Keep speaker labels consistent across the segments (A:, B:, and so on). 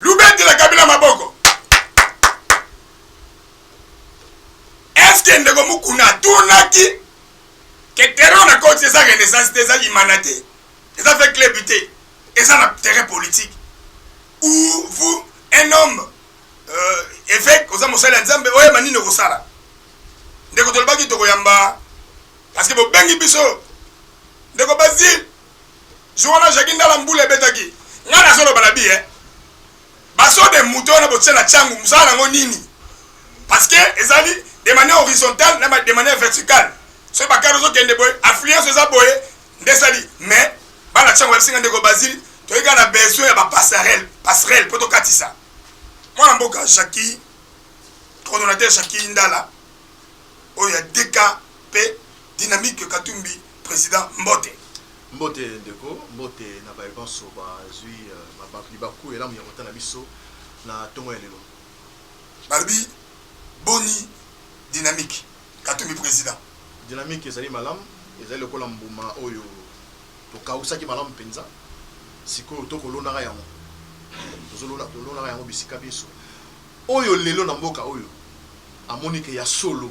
A: Lubetela Kabila maboko. Eske ndeko Mukuna atunaki ke terrain na koti eza renaissance te, eza limana te, eza fait club te, eza na terrain politique ou vous un homme euh, évêque oza mosali ya Nzambe oyeba nini okosala ndeko tolobaki tokoyamba parce que bobengi biso ndeko Basile Jour wana Jackie Ndala mbula ebetaki. Nga nazo loba na biye. Baso de moto wana botia na changu mosala nango nini? Parce que ezali de manière horizontale na de manière verticale. Soki bakari ozo kende boye, affluence eza boye nde sali. Mais bana changu babisinga ndeko Basile toyei kaka na besoin ya ba passerelle, passerelle po tokatisa. Mwana mboka Jackie, coordonnateur Jackie Ndala oyo ya DK pe dynamique Katumbi President mbote. Mbote
B: ndeko, mbote na baye banso bazwi libaku elamu ya kotala biso na ntongo ya lelo. Balobi
A: boni dynamique? Katumbi president. Dynamique ezali
B: malamu, ezali lokola mbuma oyo tokawusaki malamu mpenza, sikoyo to kolonaka yango, tozolonaka yango bisika binso. Oyo lelo na mboka oyo amoni que ya solo.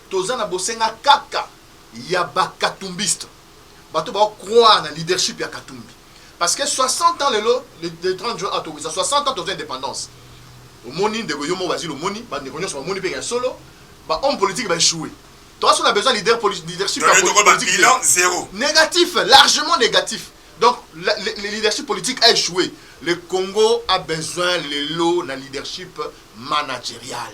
B: Toza na bosenga kaka ya ba katumbistes, bato bao croire na leadership ya katumbi parce que 60 ans lelo le 30 juin awa tokokisa 60 ans tozua independance omoni ndeko yo moko bazil omoni ba ndeko nionso bamoni pe ya solo ba homme politique ba echoue toza solo na besoin leader poli, leadership ya poli, politique bilan zero
A: negatif largement
B: negatif donc la, le, le leadership politique a echoue le Congo a besoin lelo na leadership managerial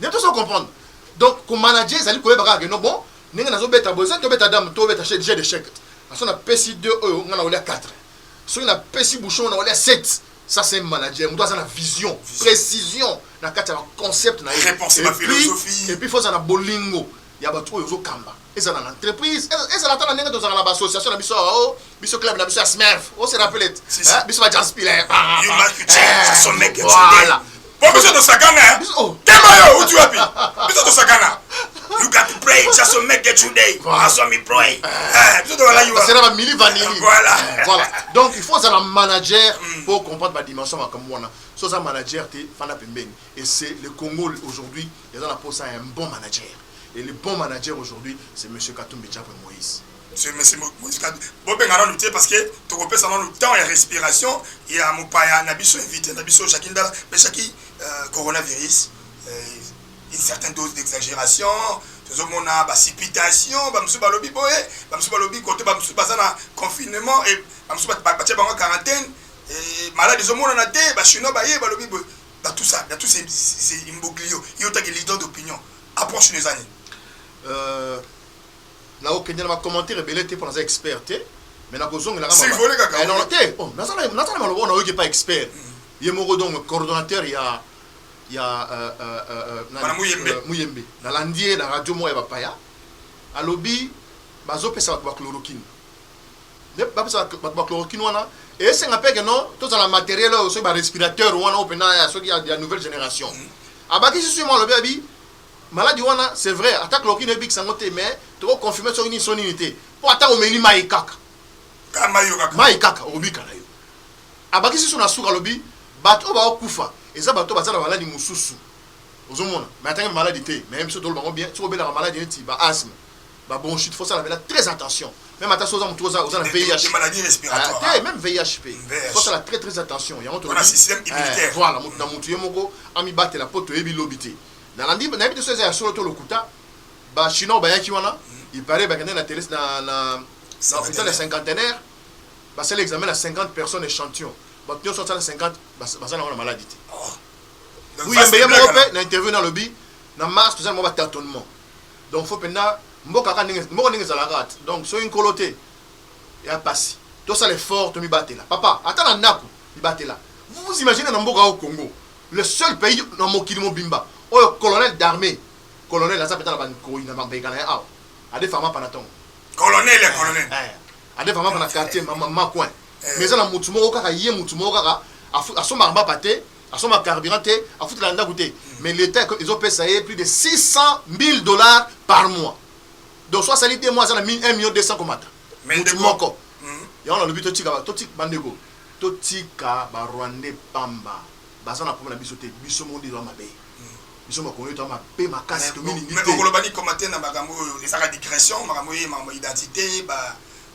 B: nde tozo comprendre donc ko manager ezali koyeba kaka ke no bon ndenge nazobeta boye ezali tobeta dame tobeta chez de chèque aso napesi 2 oyo ngai naolia 4 soki napesi bouchon naolia 7 ça c'est manager moto aza na vision précision na kati ya baconcept na ye et
A: puis faut aza na
B: bolingo ya bato oyo ozokamba ezala na entreprise e-, ezala ata na ndenge tozalaka na baassociation na biso awa o oh, biso club na biso ya smerf o se rappele te eh, biso ba jaspile eh, voilà
A: po biso tosakana oh. tema yo uti wapi biso tosakana you got to pray just to make it today as on me pray eh, biso tolala yo
B: c'est la mili vanili voilà voilà donc il faut un manager mm. pour comprendre ba dimension makambo wana so za manager te fana pembeni et c'est le Congo aujourd'hui Eza na posa ya un bon manager et le bon manager aujourd'hui c'est monsieur Katumbi Chapwe Moïse. Monsieur monsieur
A: Moïse Katumbi bo benga nanu te parce que toko pesa nanu temps ya respiration ya mopaya na biso invité na biso Jackie Ndala mais Jackie euh, coronavirus euh, une certaine dose d'exagération tozomona bacipitation bamosusu balobi boye bamosusu balobi kote bamosusu baza na confinement e bamosusu batya bango quarantaine malade ezomonana te bachinois baye balobi boye dans tout ça dans tout ces imbroglio yo otake leader d'opinion approche no eza nini? Euh,
B: nakokende na bacommentaire ebele te mpo naza expert te mais nakozongela eh, te oh, naza na maloba oyo nayoki epa expert mm. ye moko donc coordonnateur ya ya euh, euh, euh, muyembe nalandi ye na radio moko ya bapaya alobi bazopesa bato bachloroquine nde bapesa bato ba chloroquine wana esenga mpe keno tozala materiel oyo soki barespirateur wana oyo mpenza ya soki ya nouvelle génération mm. abakisi soki mwa alobi abi maladi wana c'est vrai ata chloroquine ebikisa yango te mais tokoconfirme soki nini so nini te mpo ata omeli mai kaka mai kaka okobika na yo abakisi so na suka alobi bato oyo baokufa eza bato baza na maladi mosusu ozomona mai atangi maladi te mai biso toloba yango bien soki obelaka maladi neti ba asthme ba bronchite faut sala vela très attention même ata soza mutu oza oza na VIH des maladies respiratoires
A: ah, même VIH pe
B: faut sala très très attention yango to système eh,
A: immunitaire
B: voilà mutu na mutu
A: yemoko
B: ami batela po to
A: yebi
B: lobite na landi na yebi soza ya solo to lokuta ba chinois ba yaki wana il paraît ba kende na télé na na na hôpital ya cinquantenaire ba sala examen na 50 personnes échantillon ba pio so sala 50 ba sala wana maladie te oui yembe yemoko pe na interview na lobi na mars toza na mwa ba tâtonnement Donc faut penza mboka kaka ndenge mboka ndenge ezalaka kaka te donc soki nkolo te eya pasi tosala effort tomibatela papa ata na ndaku mibatela vous vous imaginez na mboka oyo Congo le seul pays na mokili mobimba oyo colonel d'armee colonel aza penza na ba nkoyi na ba mbeka na ye awa ade fama pana tongo colonel ya colonel
A: eh, eh. ade fama pana
B: quartier ma, ma, ma coin eh. mais eza na mutu moko kaka ye mutu moko kaka asombaka mbapa te asomba carburant te afutela ndako te mais leta ezopesa ye plus de 600 000 dollars par mois donc so asali de mois aza na 1 million 200 komata mutu moko hmm. yango nalobi totika bandeko totika barwandais pamba baza na problème na biso te biso moko nde toza mabe hmm. biso makongo to mabe makasi tomilingi te okoloba ni komate na makambo
A: oyo ezaka digression makambo oyo makambo identité ba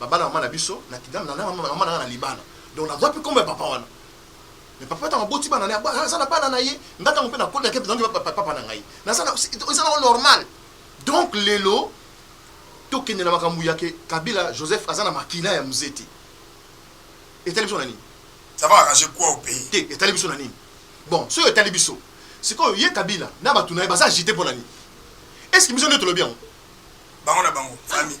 B: Baba na mama na biso na kidam na mama na mama na nga na libala donc na zwa pe kombo ya papa wana mais papa tango aboti bana na aza na bana na ye nga tango pe na kota ke donc papa papa na ngai na za na eza na normal donc lelo to kende na makambo ya ke Kabila Joseph aza na makila ya mzete etali biso na nini ça va arranger quoi
A: au pays te etali biso na nini
B: bon soki etali biso sikoyo ye kabila na bato na ye baza agite mpo na nini eske biso nde tolobi yango bango na
A: bango famille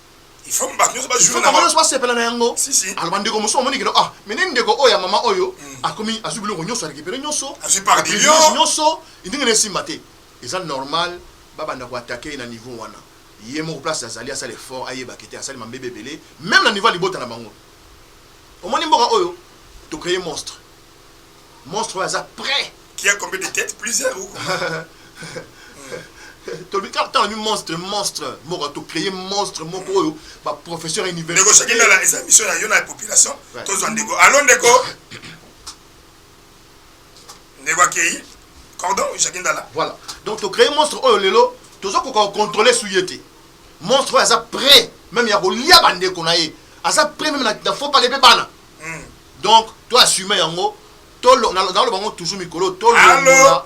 B: il faut
A: bato nyonso bajouer na bango nyonso basepela na yango
B: si si alors bandeko mosusu
A: bamoni kino
B: ah mais nini ndeko oyo ya mama oyo hmm. akomi azwi biloko nyonso arekipere nyonso azwi par million
A: nyonso ndenge na
B: esimba te eza normal babanda koatake ye na niveau wana ye moko place azali asala effort ayebaka te asali mambebe ebele meme na niveau ya libota na bango omoni mboka oyo tocreye monstre Monstre oyo aza prêt. Qui a combien de têtes
A: plusieurs ou
B: tolobi kaka ntango alobi monstre monstre moko tocreye monstre moko oyo baprofesseur ya universiténdeko soki ndala eza mission
A: na yo na population tozwa ndeko alo ndeko ndeko akei cordon jaki ndala voilà donc tocreye
B: monstre oyo lelo tozokoka kocontrole su ye te monstre oyo aza prêt meme ya kolia bandeko na ye aza prêt meme na faux pale mpe bana mm. donc to assume yango nazoloba yango toujours mikolo tolongola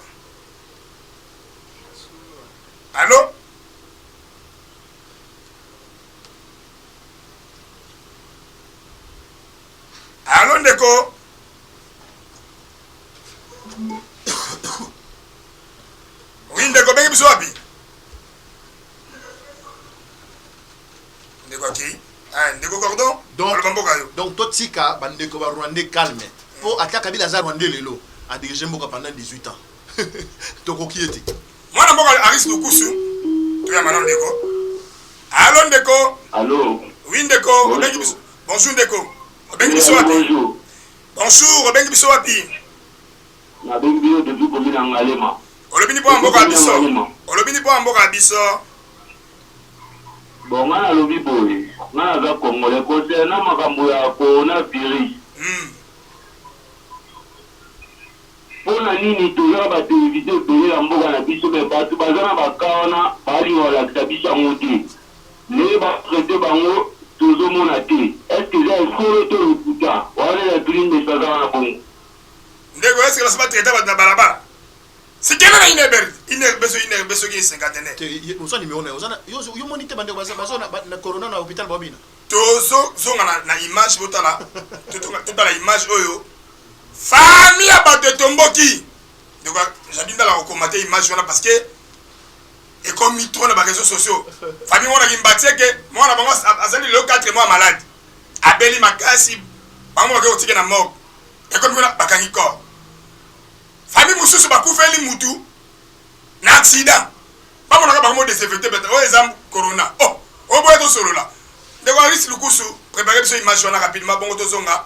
A: allo allo ndeko oui ndeko bengi biso wapi Ndeko aki. Eh, ndeko cordon. Donc, aloba mboka yo. Donc
B: totika ba ndeko ba Rwandais calme. Po ata Kabila aza Rwandais lelo, a diriger mboka pendant 18 ans. Tokoki ye te. Mwana mboka Aris
A: Lukusu. Toya mana ndeko. Allo ndeko. Allo. Oui
C: ndeko,
A: obengi biso. Bonjour ndeko. Obengi biso wapi? Bonjour. Bonjour, obengi biso wapi? Nabengi
C: biso depuis commune ya Ngalema. Olobi ni po mboka
A: biso. Olobi ni po mboka biso.
C: Bon nga nalobi boye nga naza congolais concernant makambo ya corona virus pona nini toza na ba television ebele na mboka na biso mais batu baza na ba cas wana balinga kolakisa biso yango te ndenge ba traite bango tozo mona te est ce que eza ya solo to lokuta wana nde natuni ndeko aza wana bongo. Ndeko
A: est ce que basi ba traite batu na balabala? Sikela na ine ber ine beso ine beso ki senkatene. Te oza numéro na
B: oza na yo yo moni te bande baza baza na corona na hôpital ba bina. Tozo zonga
A: na, na image botala totala image oyo fami ya bato etomboki ndeko jabi ndala kokomate image wana parce que ekomi trop na bareseau sociaux fami mona kimbatieke mwana bango azali lelo 4 mois malade abeli makasi bango bakei kotike na morgue ekomi kuna bakangi corps Famille mususu bakufeli mutu na accident bamonaka bango desinfecte beta oyo eza corona oh oboya tosolola ndeko Aris lukusu prepare biso image wana rapidement bongo tozonga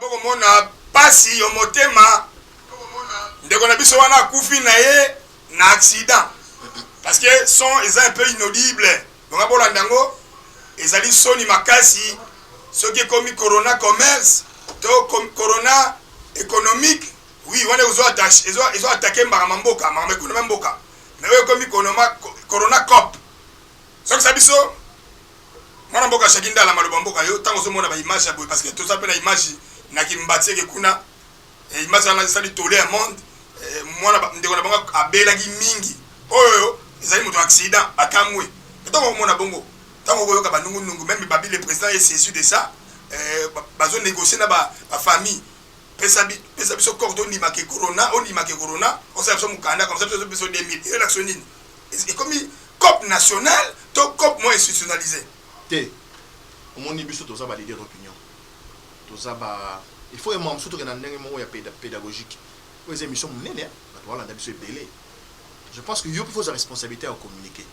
A: bokomona pasi yo motema ndeko na biso wana akufi na ye na accident parce que son eza un peu inaudible bonga bolanda yango ezali soni makasi soki ekomi corona commerce to corona économique Oui wana ezo attache ezo ezo attaquer mbaka ma mboka mbaka ma economie mboka mais oyo ekomi konoma corona cop sokisa biso mwana mboka shaki ndala maloba mboka yo ntango ozomona ba image ya boye parce que toza mpe na image na kimbati eke kuna eh, image wana esali tole ya monde eh, mwana ndeko na bango abelaki mingi oyo ezali moto accident akamwe ntango okomona bongo ntango okoyoka banungunungu meme babi le président est saisi de ça eh, bazo négocier na bafamille ba Pesa bi pesa biso corps to ndima ke corona, o ndima ke corona, o sala biso mukanda comme ça biso to biso 2000. Elo l'action nini? E komi cop national to cop mo institutionnalise? Te.
B: Omoni biso toza ba leader d'opinion. Toza ba il faut emwa mususu tokenda ndenge moko ya pedagogique. Oyo eza emission munene, bato ba landa biso ebele. Je pense que yo pe faut za responsabilite ya communiquer.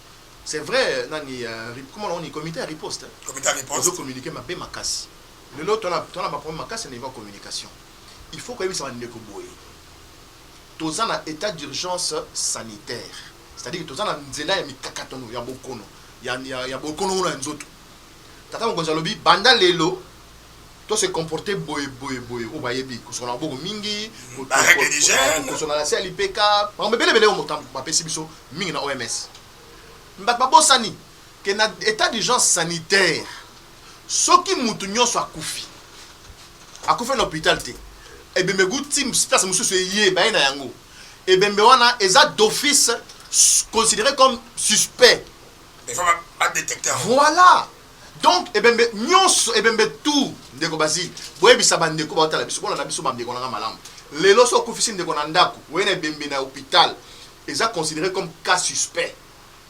B: C'est vrai nani ya comment on dit comité ya riposte. Comité ya riposte. Ozo
A: communiquer mabe makasi.
B: Lelo to na to na ba problème makasi na niveau ya communication. Il faut koyebisa ba ndeko boye, toza na etat d'urgence sanitaire, c'est à dire toza na nzela ya mikakatano ya bokono ya ya bokono ngo na nzoto. Tata mokonzi alobi banda lelo to se comporter boye boye boye oyo bayebi kosokola maboko mingi, kosokola na se ya lipeka, makambo ebele ebele oyo moto bapesi biso mingi na OMS. Bato babosani. que na etat d'urgence sanitaire soki mutu nionso akufi akufi na hopital te ebembe gu ti place mosusu eye baye na yango ebembe wana eza d'office considéré comme suspect il faut ba,
A: ba détecter yango. voilà
B: donc ebembe nyonso ebembe tout ndeko bazili boyebisa bandeko baotala biso bolanda biso bandeko na nga malamu lelo so okufisi ndeko na ndako oye na ebembe na hôpital eza considéré comme cas suspect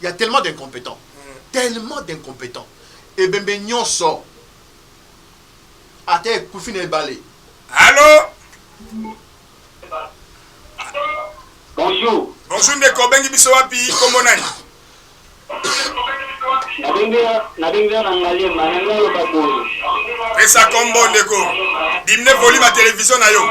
B: Il y a tellement d'incompétents. Tellement d'incompétents. Ebembe nyonso. Ata ekufi na ebale. Allô?
C: Bonjour. Bonjour ndeko, obengi biso
A: wapi? Kombo nani? nabengi
C: yo na ngaliema na ngai oloba boye pesa
A: kombo ndeko dimine volume ya televizio na yo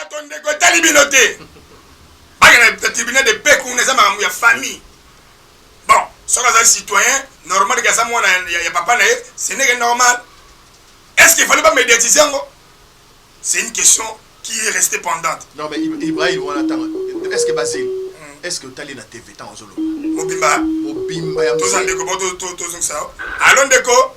A: bato ndeko etali bino te bakenda na tribunal de paix kuna eza makambo ya famille bon soki azali citoyen normal ke aza mwana ya papa na ye ce n'est que normal est ce qu'il fallait pas médiatiser yango c'est
B: une
A: question qui est
B: restée
A: pendante
B: non
A: mais
B: ibrahim
A: wana
B: tanga
A: est
B: ce que basile hmm. est ce que otali na tv ntango ozoloba mobimba
A: mobimba ya
B: toza ndeko bo tozongisa
A: yo alo ndeko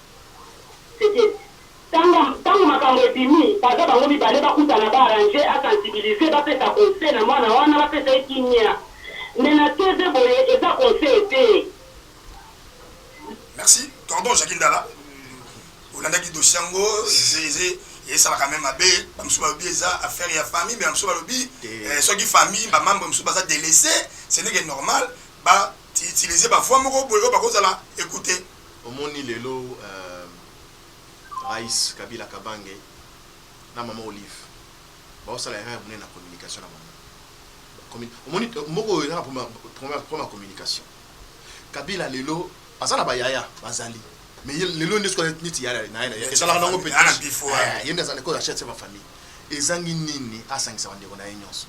D: Sekedi. Tanga, tango makambo ebimi, baza bango mibale bakutana ba arranger, a sensibiliser, bapesa conseil na mwana wana, bapesa ye kimia. Mais na TV boye eza conseil te.
A: Merci tonton Jackie Ndala olandaki dossier yango esalaka meme mabe ba mususu balobi eza affaire ya famille mais ba mususu balobi soki famille ba membre mususu baza délaissé ce n'est que normal ba utiliser ba voix moko boye oyo bakozala écouter Omoni lelo
B: euh Rais Kabila Kabange na maman Olive bazo sala erreur munene na communication na bango. Communi omoni mboka oyo eza na problème ya communication. Kabila lelo aza na ba yaya bazali mais ye lelo nde soki aza neti yaya na ye na ye ezalaka nango pe eh ye nde
A: aza ko chef
B: ya famille ezangi nini asangisa ba ndeko na ye nionso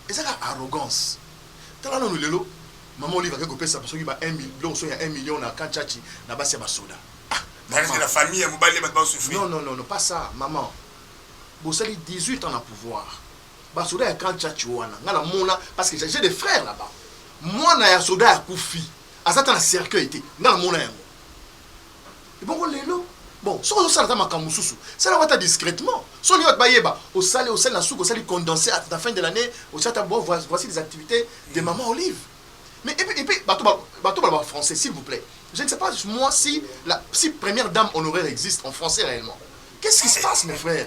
B: eza kaka arrogance tala nanu lelo Maman Olive ake kopesa soki ba 1 million biloko soki ya 1 million na camp Tshatshi na basi ya basoda. Ah, maman. La
A: famille ya mobali bato basufri. Non, non, non, non, pas ça,
B: maman. Bosali 18 ans na pouvoir. Basoda ya camp Tshatshi wana, nga na mona, parce que j'ai des frères là-bas. Mwana ya soda ya kufi, azata na cercueil te, nga na mona yango. ebongo lelo bon soki ozosala ata makambo mosusu sala yango ata discrètement soni bato bayeba osali osali na suka osali condense à la fin de l'année osi ata bon voici des activités de maman olive mais epe epe bato bato baloba français s'il vous plaît je ne sais pas moi si la si première dame honoraire existe en français réellement qu'est-ce qui se passe mes frères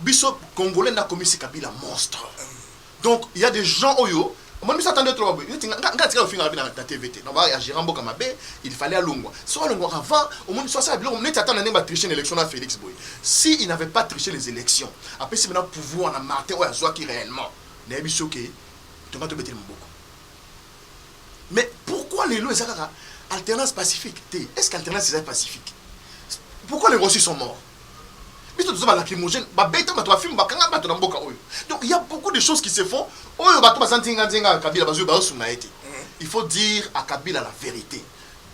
A: Biso
B: congolais nde akomisi Kabila monstre donc il ya des gens oyo omoni biso atande trop boye neti nga nga tika kofinga Kabila na TV te na ba ya gérant mboka mabe il fallait alongwa so alongwa avant omoni so asala biloko neti ata na ndenge ba tricher na élection na Felix boye si il n'avait pas tricher les élections apesi bana pouvoir na Martin oyo azwaki réellement nayebi biso ke tonga tobeteli maboko mais pourquoi lelo eza kaka alternance pacifique te est-ce que alternance eza pacifique pourquoi les Rwandais sont morts biso toza ba lacrymogène babeta bato bafilme bakanga bato na mboka oyo donc ya beaucoup de choses qui se font oyo bato baza nzinga nzinga ya kabila bazwi baosunga ye te mm. il faut dire à kabila la vérité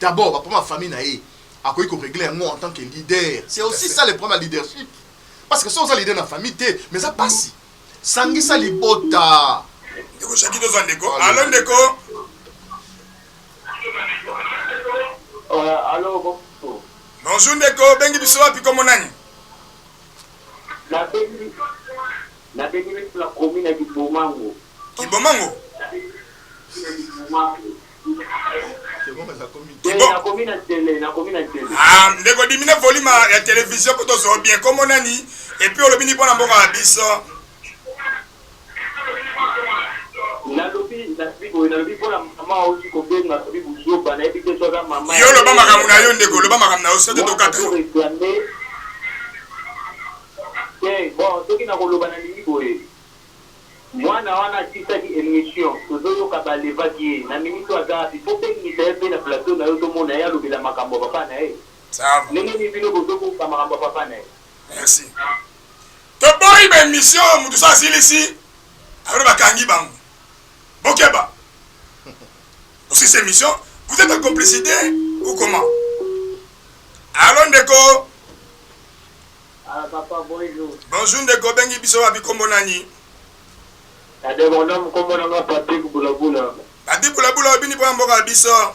B: d'abord baprobème ya famille na ye akoki koregle yango en tant que leader c'est aussi ça le problème ya leadership parce que so oza leader na famille te mais eza mpasi sangisa libota ndeko shaki toza
A: ndeko alo ndeko euh,
C: alo Bonjour ndeko
A: obengi biso wapi kombo nani?
C: Nabengi nabengi biso na commune ya kibomango. Kibomango? Ah,
A: ndeko dimine volume ya television po tozo bien kombo nani epuis olobi ni mpo na mboka ya biso Nalobi nalobi boye nalobi pona maman awuti kobenga alobi buzoba nayebi te soki aza maman yo loba makambo na yo ndeko loba makambo na yo soki tokata yo
C: te bon soki nakoloba nalingi boye mwana wana atisaki emission tozoyoka balevaki ye na minute aza wapi po bengisa ye pe na plateau na yo tomona ye alobela makambo ya papa na ye ndenge nini bino bozobuka makambo
A: ya papa na ye Merci. Toboyi ba emission mutu sa asilisi alors bakangi bango. Bokeba. Aussi c'est mission, vous êtes en complicité ou comment? Allô ndeko.
C: Ah papa bonjour. Bonjour ndeko bengi
A: biso wapi kombo nani?
C: Ade mon nom kombo na nga Patrick Bulabula. Patrick Bulabula
A: obini po mboka biso.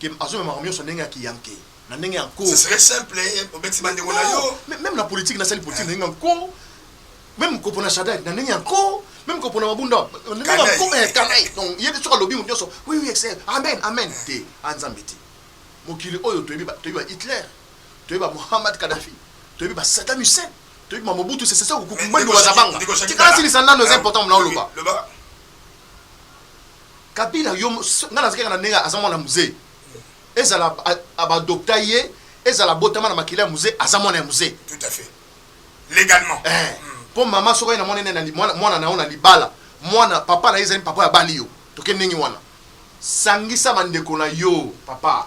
B: que azo mema makambo nionso ndenge ya ki yanke na ndenge ya nko. Ce serait simple
A: obetisi ba ndeko na yo. Non, meme na politique na sali
B: politique na ndenge ya nko, meme ko pona Shadary na ndenge ya nko, meme ko pona Mabunda na ndenge ya nko, eh canaille. Donc ye soki alobi mutu nionso oui oui excès amen amen te, ah nzambe te. Mokili oyo toyebi ba toyebi ba Hitler, toyebi ba Mohammad Kadhafi, toyebi ba Saddam Hussein, toyebi ba Mobutu Sese Seko Kuku Ngbendu Bazabanga. Tika asilisa nanu eza important muna oloba. Kabila yo nga na zikaka na ndenge aza mwana mzee ezala abadopta ye ezala abotama na makila ya mzee aza mwana ya mzee tout à fait
A: légalement eh, mpo hmm.
B: mama soki aye na mwana ene mwana na yo na libala mwana papa na ye ezali papa ya bali yo toke ndenge wana sangisa bandeko na yo papa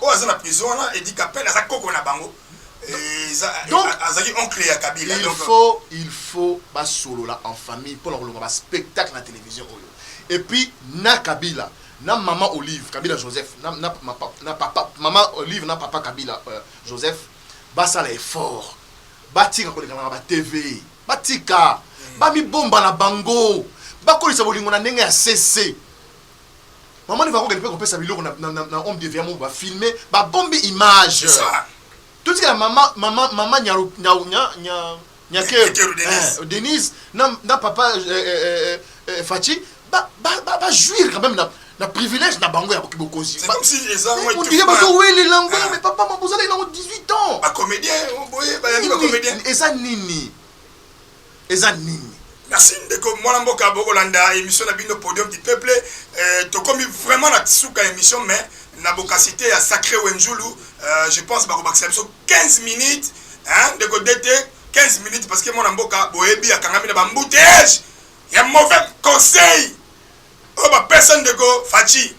A: Oyo aza na prison wana Eddy Kapend aza koko na bango donc azali oncle ya kabila il faut
B: il faut basolola en famille mpo na kolonga ba spectacle na télévision oyo et puis na kabila na mama olive kabila joseph na, na, ma, na papa mama olive na papa kabila euh, joseph basala effort batika kolekana na batv batika mm. bamibomba na bango bakolisa bolingo na ndenge ya sese Maman Neva akokende mpe kopesa biloko na, na, na, na homme de Veamo ba filme ba bombi image. Totika mama mama mama nyaru nya nya nya nyakeru Denise. Eh, Denise na na papa eh, eh, eh, eh, Fachi ba ba ba, ba jouir quand même na na privilège na bango ya bokozi. C'est comme si les armes étaient
A: Otiye ba zo wele
B: lango Ah. mais papa mabozala ina 18 ans. Ba comédien,
A: boye ba yangi ba comédien. Eza nini?
B: eza nini?
A: Merci ndeko mwana mboka bokolanda emission na bino podium du peuple euh, tokomi vraiment na suka emission mais na bokasite ya sacré wenzulu euh, je pense bakobakisa biso 15 minutes hein, ndeko dete 15 minutes parce que mwana mboka boyebi akangami na bambouteillage ya mauvais conseil oyo bapesa ndeko faci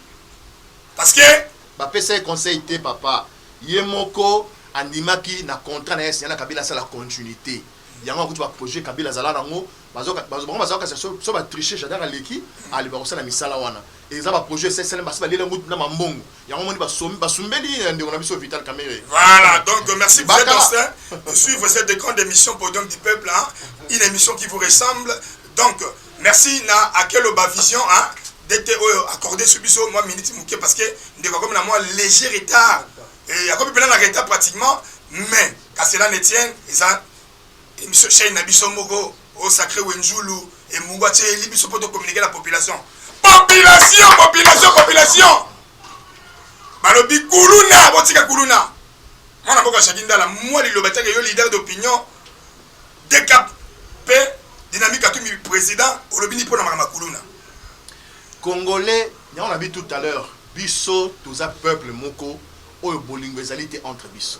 A: parce que bapesa ye conseil
B: te papa ye moko andimaki na contrat na ye signana kabila asala continuité Yango akuti ba projet kabila azala na ngo bazo bazo bango bazo kasi so so ba tricher jadar aleki ali bako sala misala wana eza ba projet ese sele basi balela ngo na mambongo yango moni basombi basumbeli ya ndeko na biso vital kamere voilà donc
A: merci pour cette aussi de suivre cette grande émission podium du peuple hein? une émission qui vous ressemble donc merci na akelo ba vision hein? dete oyo accordé sur biso moi minute moke parce que ndeko akomi na moi léger retard et akomi pena na retard pratiquement mais Qu'à cela ne tienne, eza emission chaîne na biso moko au sacré Wenzulu et Mungwa Tcheli biso poto communiquer la population. Population, population, population. Balobi kuluna, botika kuluna. Mwana mboka Shakindala, moi liloba teke yo leader d'opinion, décap, paix, dynamique à tout président, olobini pona makama kuluna.
B: Congolais, on a vu tout à l'heure, biso, tous un peuple moko, oyo bolingo ezali te entre biso.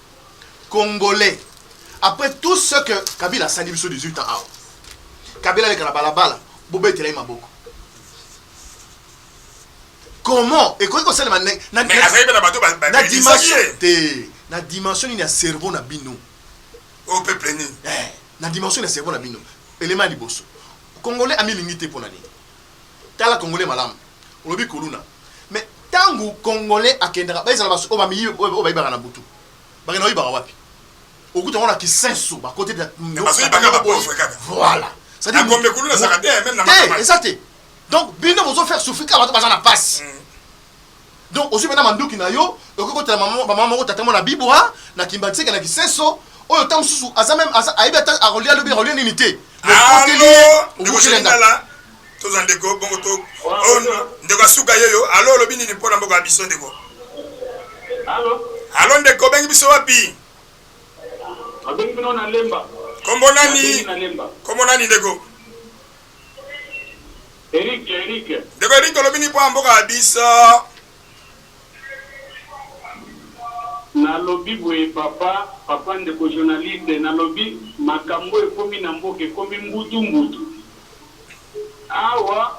B: congolais après tout ce que kabila asali biso 18 ans awa kabila aleka na balabala bobetela ye maboko comment ekoki kosalema na dimension te na dimension nini ya cerveau na bino o oh, peuple
A: nini eh, na
B: dimension ya cerveau na bino elema ya liboso congolais amilingi te mpo na nini Tala congolais malamu olobi kuluna mais tangu congolais akendaka ba ezala basu oyo bamiyi oyo bayibaka na butu bakenda koyibaka wapi okuta yango na kisensu bakote voilà c'est à dire
A: te eza te
B: donc bino bozo faire souffrir kaka bato baza na pasi mm. Donc ozui pena manduki na yo okoki kotala mama, mama moko tata moko na bibwa na kimbanseke na kisenso oyo ta mosusu aza meme aza ayebi ata akolia lobi akolia nini te okoteli ye
A: obukelenda tozwa ndeko bongo to oh, ndeko asuka yeyo alo olobi nini mpo na mboka ya biso ndeko alo ndeko obengi biso wapi
C: kombo nani
A: kombo nani ndeko
C: Eric Eric. Ndeko Eric
A: olobi nini mpo na mboka ya biso?
C: Nalobi boye papa, papa ndeko journaliste, nalobi makambo ekomi na mboka ekomi mbutu mbutu. Awa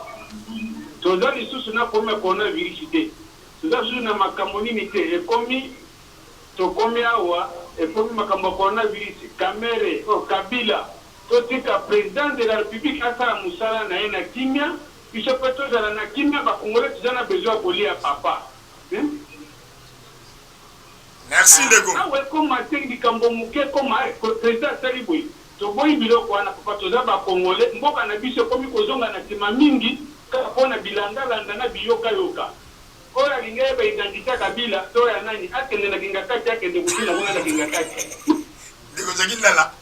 C: toza lisusu na problème ya corona virus te, toza lisusu na makambo nini te, ekomi tokomi awa ekomi makambo ya corona virus, kamere oh kabila. Totika president de la republique asala musala naye na kimia biso pe tozala na kimia ba congolais toza na besoin ya kolia papa
A: hee awa ekoma te
C: likambo muke ekoma hee president asali boye toboyi biloko wana papa toza ba congolais mboka na biso ekomi kozonga na sima mingi kaka pona bilanda landa na biyoka yoka oyo alingi ayeba identite ya kabila to ya nani akende na kingakati akende kofina kuna na kingakati.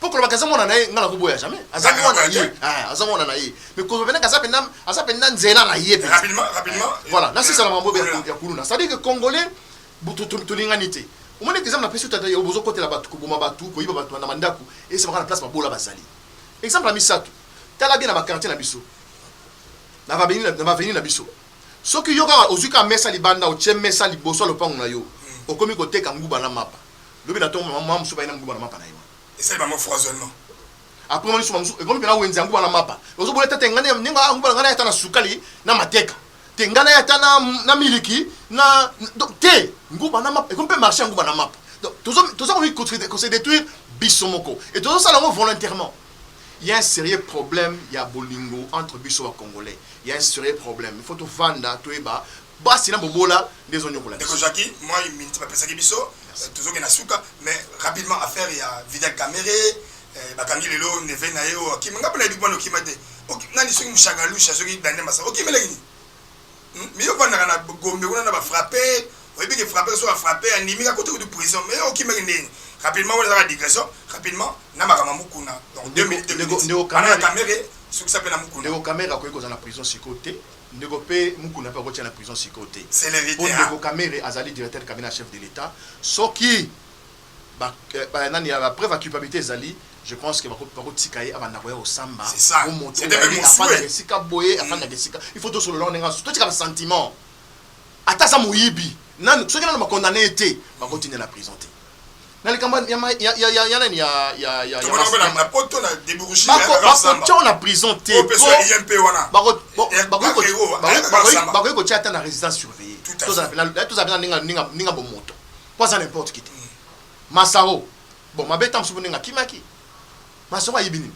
B: po kolobaka eza mwana na ye ngai nakoboya jamais aza ah, mwana na ye ah, aza mwana na ye mais kolobelaka aza mpenza aza mpenza nzela na ye voilà
A: nasisa na mambo
B: ya kuluna c'est à dire que congolais tolingani te omoni ete exemple napesi tata yo bozokotela bato koboma bato koyiba bato na bandako esemaka na place babola bazali exemple ya misato tala bien na bakartier na biso na baveni na biso soki yo kaka ozwi kaka mesa libanda otie mesa liboso ya lopango na yo hmm. okomi koteka nguba na mapa Lobi na tongo, mama mosusu baye na muluba na mapa na ye wana. Esali bango froisonnement.
A: Après mama mosusu,
B: mama mosusu ekomi pena wenze ya nguba na mapa. Ozo bola ata te nga nde nga nguba na nga naye ata na sukali na mateka te nga naye ata na na miliki na donc te nguba na mapa ekomi pe marche ya nguba na mapa. Donc tozo toza komi ko se detruire biso moko et tozo sala yango volontairement. Il y a un serieux problème ya bolingo entre biso ba congolais. Il y a un serieux problème. Il faut to vanda to yeba Basi na bobola nde ezo niokola biso. Ndeko Jacqui, mwa minute
A: bapesaki biso, tozokende na suka, mais rapidement affaire ya Vital Kamerhe, eh, bakangi lelo neve na ye oyo akima. Nga pona yebi pona okima te. Ok, nani soki Mushagalusha, soki Daniel Masa, okimelaki nini? Hmm? Mais yo vandaka na Gombe kuna na ba frapper, oyebi ke frapper soki afrapper andimi ka kote kutu prison, mais yo okimaki ndenge nini? Rapidement wana ezaka digression, rapidement na makambo ya Mukuna. Donc 2 minutes, 2 minutes. Bana ya Kamerhe,
B: sukisa pe na
A: Mukuna. Ndeko Kamerhe akoki kozala na
B: prison sikoyo te. Ndeko pe mukuna pe akotia na prison sikoyo te po ndeko
A: kamere azali
B: directeur cabinet ya chef de l'etat soki ba nani ya ba preuve ya culpabilite ezali je pense que bako tika ye abanda koya kosamba po moto
A: afandaka
B: esika boye afandaka esika il faut tosolola ndenge asusu totika ba sentiment ata aza moyibi nanu soki nanu ba condamne ye te bako tinda ye na prison te na likambo ya ma- ya- ya- ya- ya nani ya ya ya ya tomona
A: bana mas- na poto na deburushi bako- bakotya yo na
B: prison te oyo mpeso po- ya imp wana bako- bo- Eh, bakoki ko- bakero, bakoki- ayaka bakoki- kosamba. bakoki kotya ata na résidence surveillée Tout à tozala fait. mpe na- tozala mpe na ndenge ya- ndenge ya- ndenge ya bomoto mpo aza n'importe qui te masaro bon mabe ta mosusu ndenge akimaki masaro ayebi nini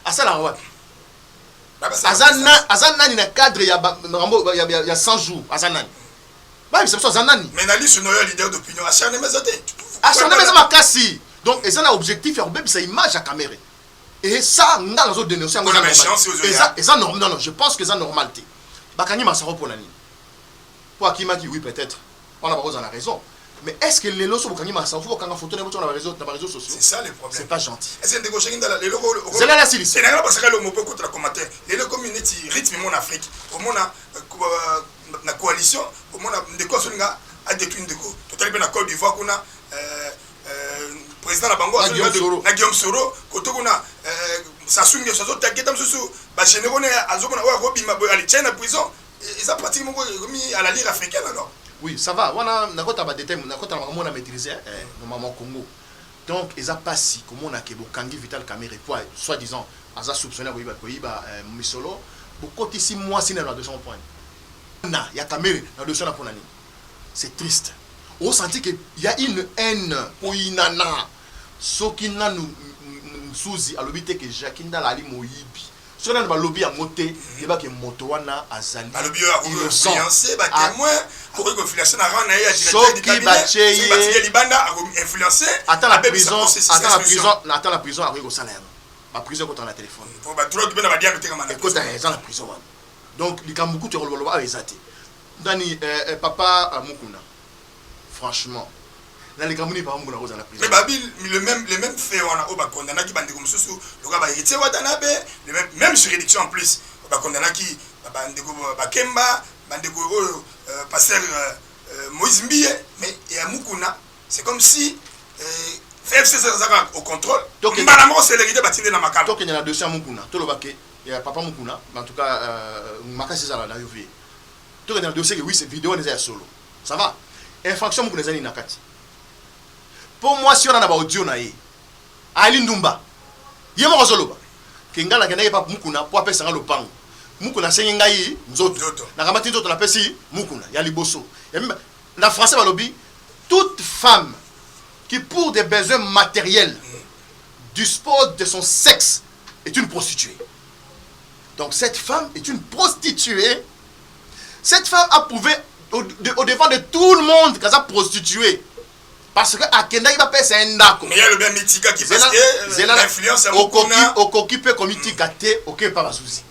B: asalaka wapi Babasala aza kosala. na- aza nani na cadre ya ba- makambo ya- ya ya 100 jours aza nani bayebisa biso aza nani mais na lisu noyo leader
A: d'opinion acharnement eza te acharnement eza makasi
B: donc eza na objectif ya kobebisa image ya kamere et ça nga nazo denoncer yango eza eza normal non non je pense que eza normal te bakangi masaro mpo na nini mpo akimaki oui peut-être wana bakozala na raison mais est-ce que lelo so bokangi masaro fo bokanga photo na yango na bareseau na bareseau sociaux c'est ça le problème c'est pas
A: gentil ese ndeko
B: oshangi ndala lelo
A: zela la sili c'est nanga
B: basaka longo mpo
A: ekotela commentaire lelo ekomi neti rythme mon afrique omona euh, na coalition komona ndeko azolinga adetruire ndeko totali mpe na Cote d'Ivoire kuna euh, euh, président na bango na Guillaume Soro koto kuna euh, Sassou Nguesso azotaketa mosusu bagénéraux ne azomona oyo akobima boye alitie na prison e, eza pratique moko ekomi à la lire africaine alors oui ça va wana
B: nakota badetail nakota na makambo na maîtrise eh, eh, na mama congo Donc eza pasi komona ke bokangi vital kamerhe po soit disant aza soupcone ya koyiba misolo bokotisi muasi naye na dossier yango pona nini muana ya kamerhe na dossier wana pona nini c'est triste o sentir ke ya une haine koyinana soki nanu nsuzi alobi te ke jacki ndala ali moyibi Soki nanu balobi yango te, yeba ke moto wana azali
A: innocent. Soki batie ye ata na prison,
B: ata na prison, ata na prison akoki kosala yango. Ba prison ekotaka na telephone. Ekota eza na prison wana. Donc likambo kutu ya koloba loba awa eza te. Nani eh, eh papa Mukuna. Franchement na likambo nini papa mbunaku aza na prison. Mais ba bi le meme les
A: memes faits wana oyo ba condamnaki ba ndeko mususu lokola ba Heritier Watanabe le meme meme juridiction en plus ba condamnaki ba ndeko ba Kemba ba ndeko oyo pasteur Moise Mbiye mais ya Mukuna c'est comme si FCC aza kaka au controle mbala moko celerite ba tindi na makala. Tokende na dossier ya Mukuna
B: toloba que ya papa Mukuna en tout cas makasi ezala na yo vie. Tokende na dossier que oui c'est video wana eza ya solo ça va infraction mukuna eza nini na kati po mwasi wana na ba audio na ye ali ndumba ye moko azoloba ke ngai nakendaki epa mukuna po apesa ngai lopango mukuna asengi ngai nzoto nakamati nzoto napesi mukuna ya liboso ya mimba na français balobi toute femme qui pour des besoins matériels dispose de son sexe est une prostituée Donc cette femme est une prostituée. Cette femme a prouvé au, de, au devant de tout le monde qu'elle a prostituée. Parce que akendaki bapesa ye ndako
A: okoki mpe komitika
B: te oke epa bazuzi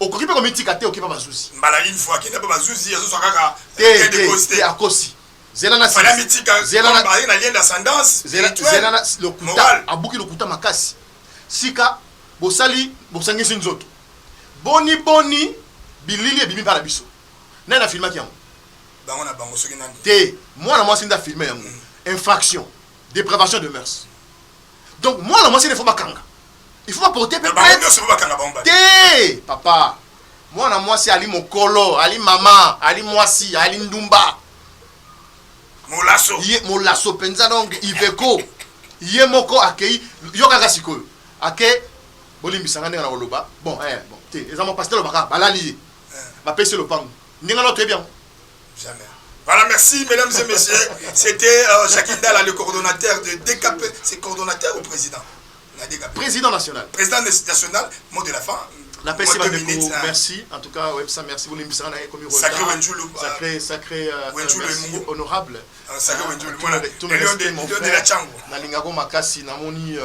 B: okoki mpe komitika te oke epa bazuzi mbala une fois akenda mpe
A: bazuzi azozwa kaka te
B: akosi zela na fana mitika zela
A: na baye na lien d'ascendance zela zela na
B: lokuta abuki lokuta makasi sika bosali bosangisi nzoto boni boni bilili ebimi mpa na biso nani na filmaki yango bango na bango soki nani te mwana mwasi nda filme yango mm. infraction depravation de mœurs donc mwana mwasi nefo bakanga il faut porter plainte bango nionso ba kanga bango ba te papa mwana mwasi ali mokolo ali mama ali mwasi ali ndumba molaso ye molaso penza donc iveko ye moko akei yo kaka sikoyo ake bolimbisa nga ndenge na koloba bon eh, bon te eza mwa pasitele baka balali ye eh. bapesi lopango ndenge na toyebi yango jamais
A: Voilà, merci mesdames et messieurs. C'était euh, Jacques Indala, le coordonnateur de DKP. C'est coordonnateur ou président Président
B: national. Président national,
A: mot de la fin. La paix, c'est ma minute.
B: Merci. En tout cas, Websa, merci. Vous l'impressionnez hein, comme une Sacré Wenjulu. Euh,
A: sacré, sacré,
B: euh, merci, honorable. Euh, sacré hein, Wenjulu.
A: Moi, tout le respect, mon
B: frère. Na lingako makasi, na moni,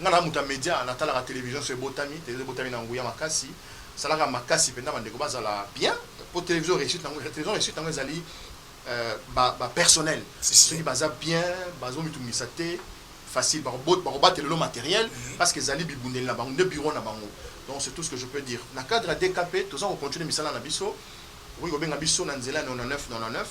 B: nga na muta media, na tala la télévision, c'est Botami, télé Botami na nguya makasi. Salaka makasi, penda bandeko bazala bien. Pour télévision réussite, na télévision réussite, na ezali ba ba personnel. Soki baza bien, bazo mitumisa te. facile bako bako batela yo materiel parce que ezali bibundeli na bango nde bureau na bango donc c'est tout ce que je peux dire na cadre ya DKP toza ko continuer misala na biso okoki kobenga biso na nzela ya 99 99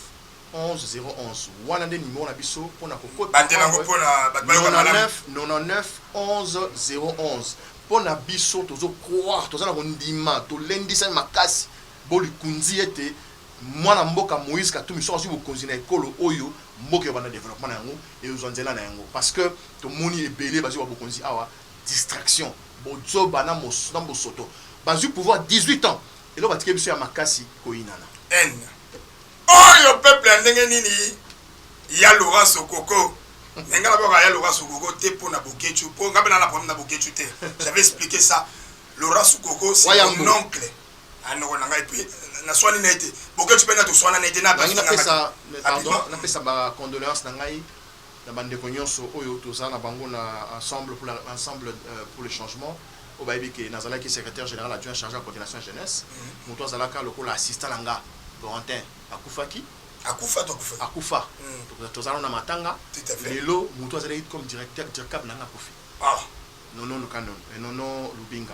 B: 11 011 wana nde numero na biso pona ko kota Batela yango po na bato bayoka malamu. 99 99 11 011 pona biso tozo croire toza na kondima tolendisami makasi bo likunzi ete Mwana mboka Moïse Katumbi soki azui bokonzi na ekolo oyo mboka ekobanda developpement na yango ekozua nzela na yango parce que tomoni ebele bazui ba bokonzi awa distraction bozoba na bosoto bazui pouvoir 18 ans eloko batike biso ya makasi koyinana. Haine
A: oyo peuple ya ndenge nini ya Laurent Sokoko mais nga nabaka ya Laurent Sokoko te po na Boketshu po nga pe naza na problème na Boketshu te j'avais explique ça Laurent Sokoko c'est mon oncle Ah ndeko na ngai puis naswani na ye te boketshu mpe nga toswanani te Nalingi napesa napesa nga
B: mais pardon rapidement. napesa ba condoleances na ngai na ba ndeko nionso oyo toza na bango na ensemble pour la ensemble euh, pour le changement oyo bayebi ke nazalaki secretaire general adjoint charge ya coordination ya jeunesse moto azalaka lokola assistant na nga Corentin akufaki Akufa to akufa? akufa Mm. To- toza nano na matanga Tout à fait. lelo moto azalaki comme directeur direccable na nga akufi Ah. nono lukanono eh, nono lubinga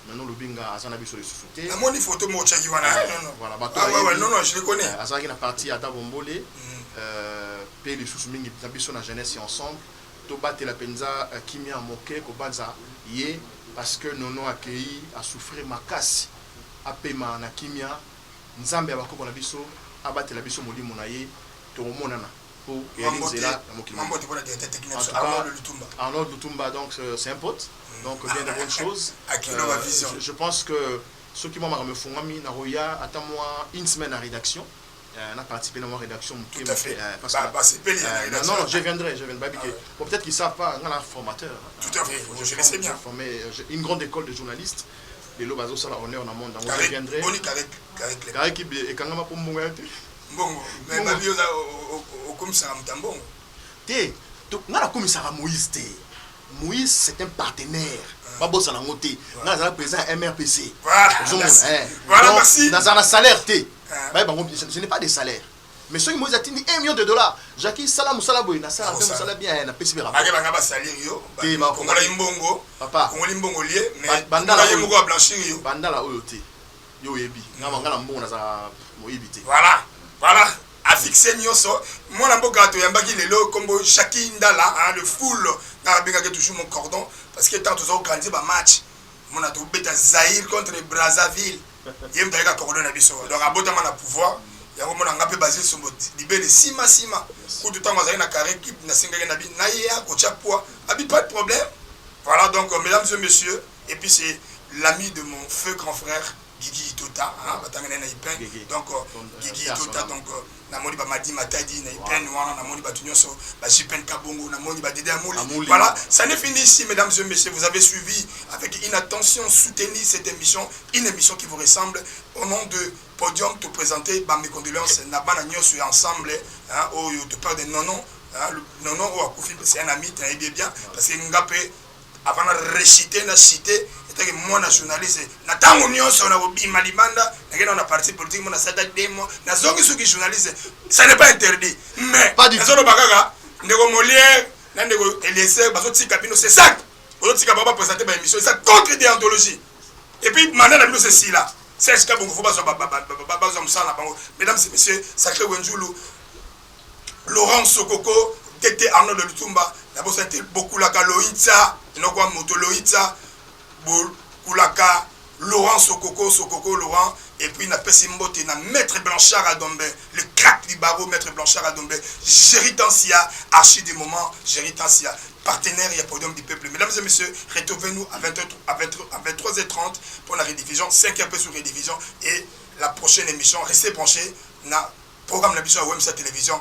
B: Nanu olobi nga aza na biso lisusu te. Na moni photo moko otiaki
A: wana eh, non non. Voilà bato bayebi.
B: Ah ouais, non non, je le
A: connais. Eh, azalaki na parti ya Dabo
B: Mbole. Mm. Euh, pe lisusu mingi na biso na jeunesse ya ensemble. Tobatela penza euh, kimia moke kobanza ye parce que Nono akeyi a souffrir makasi. Apema na kimia. Nzambe ya bakoko na biso abatela biso molimo na ye. Tokomonana. po oyali nzela na mokili mobimba en tout cas Arnold Lutumba donc c'est un pote donc bien de bonnes choses je pense que soki mwa makambo efungwami nakoya ata mwa une semaine na redaction Euh, na participer na mwa rédaction moke moke euh, parce
A: que basepeli euh, na
B: non non je viendrai je viendrai bike ah bon peut-être qu'ils savent pas nga na formateur tout à fait je,
A: je sais bien formé une grande
B: école de journalistes lelo bazosala honneur na monde yango je viendrai karek ekangama mpo mbongo ya te mbongo
A: mais babi oza okomisaka moto ya
B: mbongo te nga nakomisaka moïse te moïse c'est un partenaire ah. babosana yango te nga nazala président ya mrpc eh.
A: nazala na salaire te
B: ah. baye bango je n'ai pas de salaire mais soki moïse atindi 1 million de dollars jaki sala mosala boye nasala mpe mosala bien eh, napesi mpe bakebanga basalir
A: yo kongolai mbongo kongoli mbongo lie mais bandala oyo te
B: Yo oyebi nga nga na mbongo nazala moyibi te. Voilà voilà
A: a fixe nioso mwana mboka toyambaki lelo kombo Jackie Ndala hein, le full nga abengaki toujours mon cordon parce que tant tozo organiser ba match mona tobeta Zaïre contre Brazzaville ye moto ayeka cordon na biso donc abotama na pouvoir yango mona nga pe Basile Sombo libele sima sima kutu tango azali na carré clip nasengaki na bi na ye akotia poids abi pas de problème voilà donc mesdames et messieurs Et puis c'est l'ami de mon feu grand frère Gigi Itota hein, batanga na Ipen donc euh, Gigi Itota donc euh, na moni ba Madi Matadi na Ipen wana na moni batu nyoso ba Jipen Kabongo na moni ba Dede Amuli voilà ça n'est fini ici mesdames et messieurs vous avez suivi avec une attention soutenue cette émission une émission qui vous ressemble au nom de podium te présenter ba mes condoléances na bana nyoso ensemble hein oyo oh, te parle de nono hein, nono oyo oh, akufi c'est un ami tu bien parce que ngape Avant na rechuter na chute etake mwana journaliste na tango nionso na kobima libanda na kenda na parti politique mona sata deux mois na zongi suki journaliste ça n'est pas interdit mais nazo loba kaka
B: ndeko
A: Molière na ndeko Eliezer bazo tika bino c'est ça bozo tika ba ba présenter ba émission ça contre déontologie et puis mandat na bino c'est sila c'est ce que bongo faut bazwa bazwa musala na bango mesdames et messieurs sacré Wenzulu Laurent Sokoko, TT Arnold Lutumba, nabosani te Bokulaka Loitsa, noko ya moto Loitsa, Bokulaka Laurent Sokoko, Sokoko Laurent, et puis napesi mbote na Maitre Blanchard Adombe, le crack du barreau Maitre Blanchard Adombe, Jerry Tansia, archi du moment, Jerry Tansia, partenaire ya Podium du Peuple. Mesdames et messieurs, retrouvez-nous à 20 à 20 à 23h30 pour la rediffusion, 5h sur rediffusion et la prochaine émission. Restez branchés na Programme na biso ya Wemsa Television.